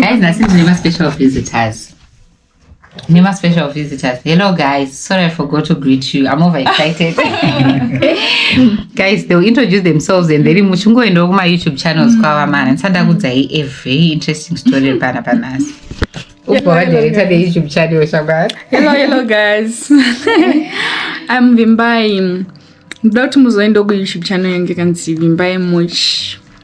Guys, nhasi ndine ma special visitors. Ndine ma special visitors. Hello guys, sorry I forgot to greet you. I'm over excited. guys, they'll introduce themselves and then muchingoendawo kuma YouTube channels mm. kwava mana. Ndisandakudzai a very interesting story pana panasi. Upo vadirector the YouTube channel shagara. Hello, hello guys. I'm Vimbai. Ndoda kuti muzoendawo ku YouTube channel yangu kanzi Vimbai Much.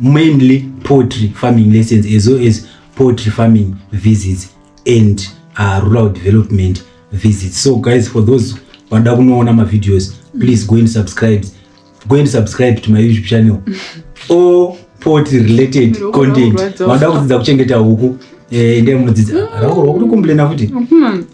mainly poultry farming lessons as well as poultry farming visits and uh, rural development visits so guys for those vanoda kunoona mavideos please go and subscribe go and subscribe to my youtube channel or poultry related Ndiri content kurwadziwa. vanoda kudzidza kuchengeta huku eh, ndiye munodzidza rakurwa kuti kumblena futi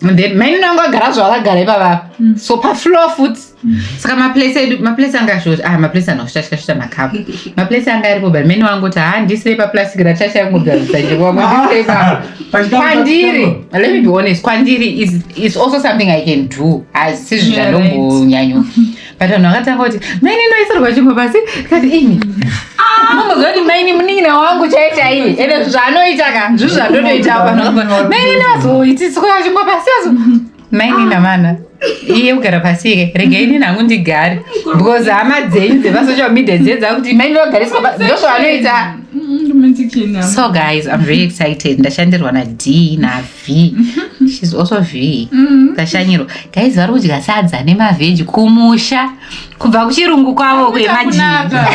then mainini angu agara zvavakagara ivavapa mm. so pafloor futi mm. saka maplace edu maplace anga shota ah maplace anoshutashuta shuta makapu maplace anga aripo but maini wangu kuti haa ndisire paplastic rachasha yanguakwandiri ah, let me be honest kwandiri is, is also something i can do asi zvinhu zvandombonyanyo but vanhu vakatanga kuti maini inoisirwa chingwa pasi tikati imi mamboziva kuti maini munin'ina wangu chaita iye ende zvaanoita ka zvizvi zvandotoitawo vanhu vakabva maini inozoitiswa chingwa pasi azo maini namana iye kugara pasi ike regai nini hangu ndigare because hama dzenyu dzepasocial media dziye dzakuti maini vagariswa pasi ndozvaanoita so guys i'm very excited ndashandirwa nad nav V. She's also V. Mm. Tashanyiro. Guys, vari kudya sadza nemaveji kumusha kubva kuchirungu kwavo kwemajinga.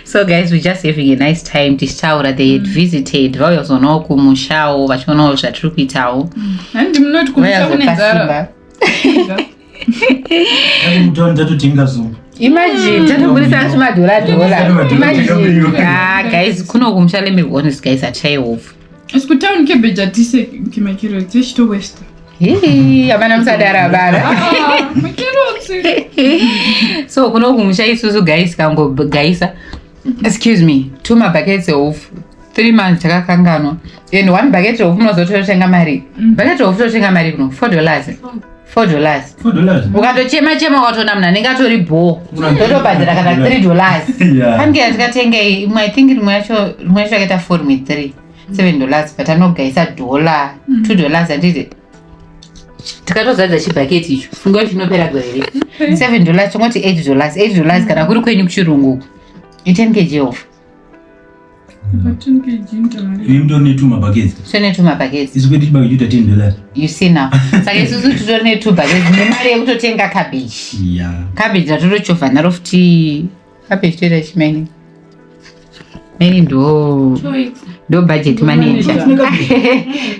so guys, we just having a nice time tichitaura they had mm. visited vauya kuzonawo kumushawo vachionawo zvatiri kuitawo. Handi mm. munoti kumusha kune nzara. kuno kumusha lemehonest guys atshaye hofu asi kutown cabbage atise kimakiro dzechitowesta hapana musadara vana so kuno kumusha isusu guys kangogaisa excuse me two mabuckets ehofu three months takakanganwa and one bucket rehofu munozototenga mari mm. bucket rehofu totenga mari kuno four dollars four dollars ukatochema chema ukatoona munhu anenge atori bho totobhadhara kana three dollars pange yatikatengei imwe i think rimwe yacho rimwe yacho yakaita four rimwe three seven dollars but anogaisa dollar mm. two dollars anditi tikatozadza chibhaketi icho funga kuti chinopera gore here seven dollars tongoti eight dollars eight dollars kana kuri kwenyu kuchirungu uku iten kg of saka isusu titori netwo bhaketi nemari yekutotenga cabbage cabbage ratorochovha naro futi Kape chitoita ichi maini. Maini ndo ndo budget manager.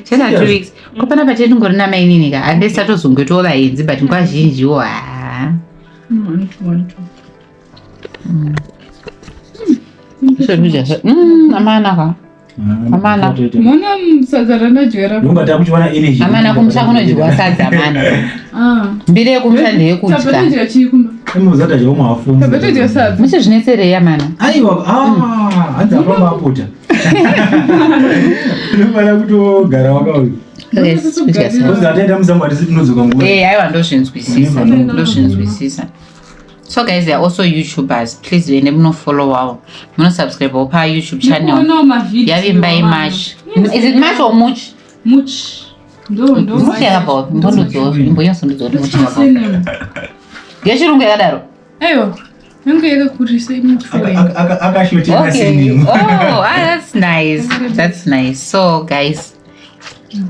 Chana two weeks. Ko pana pati ndingori na maini nika. Ande sato zungu to vaenzi but ngwa zhinji wo. Ah. Mm. Mm. Mm. Amana ka. Amana. Mona sadza ranadyera. Nyumba takuchiwana energy. Amana kumusha kunodyiwa sadza amana. Ah. Mbiri yekumusha ndiye kudya. Tapetodya chii kumba? Imozata chao mwafunga. Tapetodya sadza. Musi zvinetserei amana? Aiwa ah hanzi apa maputa. Unofanira kutogara wakauya. Yes, kudya sadza. Kuzataenda musambo atisi tinodzoka nguva. Eh, aiwa ndozvinzwisisa. Ndozvinzwisisa. so guys they are also youtubers please vende munofollow wavo munosubscribe wo pa youtube channel yavimba imash is it mash or much much much yakabva ndondodzo imbonyaso ndodzo kuti much ngechirungu yakadaro aiwa yangu yakakurisa imuakashotaathats oh, ah, nice that's nice so guys mm.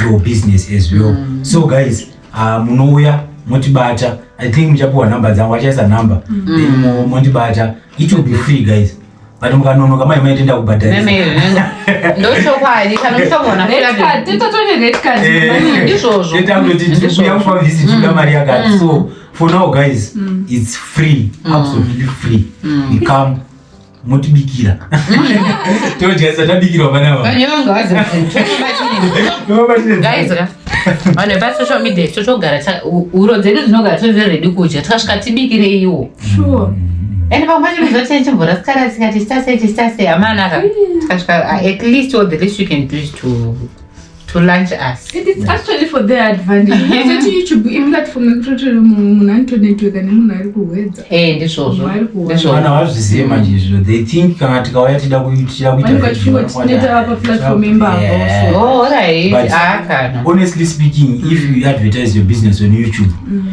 your business as well mm. so guys uh, munouya motibata i think muchapiwa number dzangu achaisa number mm. then mondibata it will be free guys but mukanonoka mai mai tenda kubhadharisaakutotiuyakupa visit uda mari yakati mm. so for now guys mm. it's free mm. absolutely free mm. you come motibikira todyarisa tabikirwa vana vanhu vepasocial media isu togara huro dzedu dzinogara tozve redi kudya tikasvika tibikireiwo and vamwe vacho vizoti chimvura sikara sikati sitase chisitase amanaka tikasvika at least all the least you can do is to to lunch us and it's actually for their advantage yekuti youtube imulatifomu yekuti munhu anonetworka nemunhu ari kuhwedza eh ndizvozvo ndizvo vana vazvizive manje izvo they think kana tikauya tida kuitira kuitatineta apa platform imbavo oh alright ah, honestly speaking if you advertise your business on youtube mm.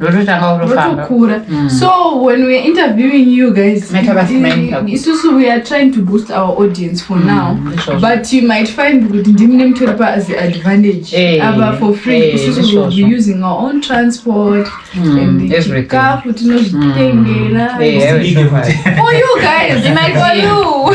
rototanga kurofambarotokura mm. so when weare interviewing you guys isusu we are trying to boost our audience for mm, now mm, but you might find kuti ndimi nemutoripa as the advantage hey, eh, ava for free hey, eh, isusu sure, will be using our own transport mm, and chikafu tinozvitengera mm, hey, eh, for you guys for you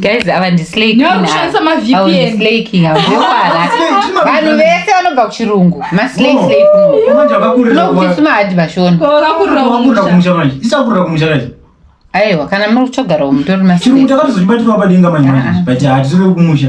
guys ava ndislakeakushandisa mavpnvanhu vese vanobva kuchirungu maslakeslakeunokutisi mahadhi vashona aiwa kana muri kuchogarawo mutori maslakeakatozochibatirwa padenga manje manje but hatitori kumusha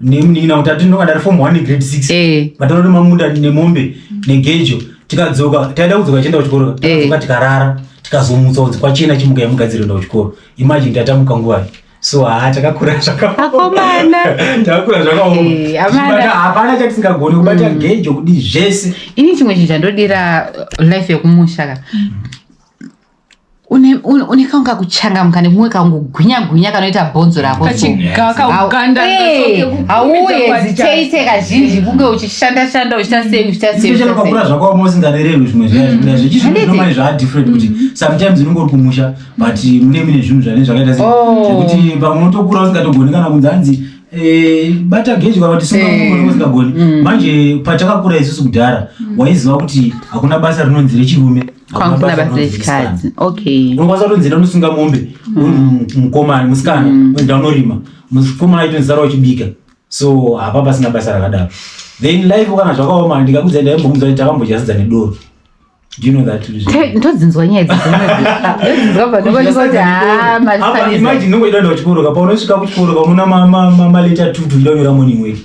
nemunin'ina kuti ati ndonga ndari form one grade six eh. matano nemamuda nemombe negejo tikadzoka taida kudzoka tichienda kuchikoro eh. tikadzoka tikarara tikazomutsa kunzi kwachena chimuka yamugadzira enda kuchikoro imagine tatamuka nguvai so haa takakura zvakaakomana takakura zvakaomabata eh, hapana chatisingagoni kubata mm. gejo kudi zvese ini chimwe chinhu chandodira life yekumusha ka mm. une kaunge kakuchangamuka nekumwe kaungogwinya gwinya kanoita bhonzo rako hauye ziteite kazhinji kunge uchishanda shanda uchita sei uchita seipakura zvakaoma usingavererwi zvimwe zviya zvechizvinomai zvaa different kuti mm-hmm. sometimes unenge uri kumusha but mune mine zvinhu zvane zvakaita sekuti oh. pamwe unotokura usingatogoni kana kunzi hanzi Eh, bata geji kana kuti sungaausingagoni eh. mm. manje patakakura isusu kudhara mm. waiziva kuti hakuna basa rinonzi rechirume kwangu kuna basa rechikadzi okay unokwanisa kutonzi enda unosunga mombe mm. mukomana musikana mm. enda unorima mukomana aito nzara uchibika so hapa pasina basa rakadaro then life kana zvakaoma ndikakudza ndaimbomuza kuti takambojasidza nedoro ndodzinzwa nyaya dzidzinzwaimagine ungoidaenda kuchikoroka paunosvika kuchikoroka unoona maleta tutu ndonyora morning wake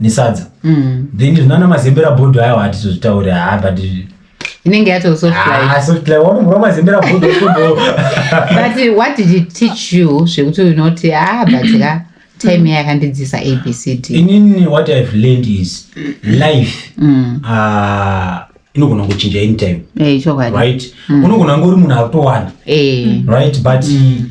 nesadza mm. then zvinana mazembera bhodho ayo hatizozvitaure haa but inenge yato softliwanogura ah, mazembera bhodho but what did it teach you zvekuti unoti ah but ka time yakandidzisa abcd inini what ihave learned is life mm. uh, inogona kuchinja anytime eh, right mm. unogona ngori munhu akutowana eh. right but mm.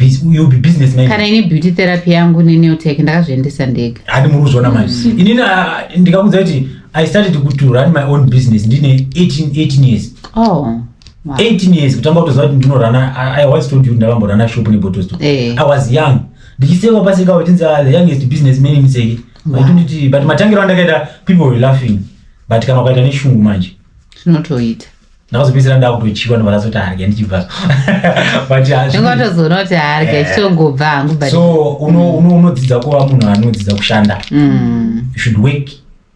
you'll be business man kana ini beauty therapy yangu neneotech ndakazviendesa ndega hadi muri kuzviona manje mm. inini ah, ndikakuudza kuti i started to run my own business ndine 18 years oh 18 years kutanga kutoziva kuti ndinorana i once told you ndakamborana shop nebottles to eh. i was young ndichisekwa pasi kawo tinzi ah, the youngest business man imiseki nditi but matangiro andakaita people were laughing but kana ukaita neshungu manje zvinotoita ndakazopedzisira ndakutodyiwa ndobva ndazoti harya ndichibva zvingatozoona kuti harya eh. chitongobva hangu but so unodzidza kuva munhu anodzidza kushanda mm. you should work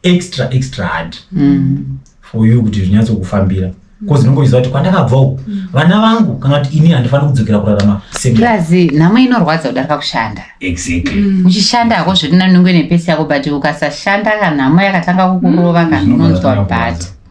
extra extra hard mm. for you kuti zvinyatsokufambira bcause ndinongoiziva kuti kwandakabva uku mm. vana vangu kana kuti ini handifaniri kudzokera kurarama seplazi nhamo inorwadza kudarika kushanda exactly mm. uchishanda hako zvirinanungu nepesi yako but ukasashanda ka nhamo yakatanga kukurova kana unonzwa bata